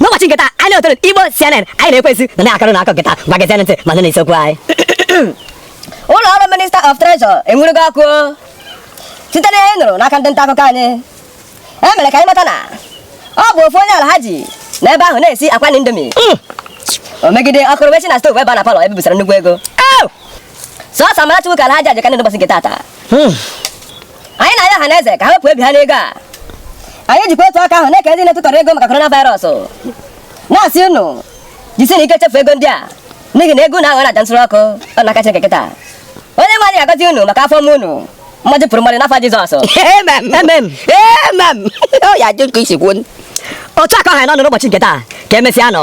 n'ụbọchị nke taa anyị na-etere igbo cnn anyị na-ekwezi na na-akọrọ unu akụkọ nke taa ngwa gezie ntị ma nụ na isiokwu anyị ụlọ ọrụ minista of treasure enwurugo ọkụ site na ihe a nụrụ n'aka ndị nta akụkọ anyị e mere ka anyị mata na ọ bụ ofu onye alhaji n'ebe ahụ na-esi akwa na indomi mm. o megide ọkụ wee si na stovu bịa na palọ ebe e busara nnukwu ego sọsọ amara Chukwu ka alhaji a ji ka ndị ụbọchị nke tata hmm. anyị na-arịọ ọha na eze ka ha wepụ obi ha n'ego a anyị jikwa otu aka ahụ na-ekele ndị na-etụtọrọ ego maka korona virus na-asị unu jisinụ ike chefu ego ndị a n'ihi na ego unu aghọọla aja nsure ọkụ n'aka Chineke kịta onye nwe anyị ga-agọzi unu maka afọ ọma unu mmadụ pụrụ mmadụ n'afa Jizọs Amen. Amen. Amen. Ọ ya ajụ nke isi kwuo. Otu a ka ọ ha n'ọnụ n'ụbọchị nke taa ka emesịa nụ.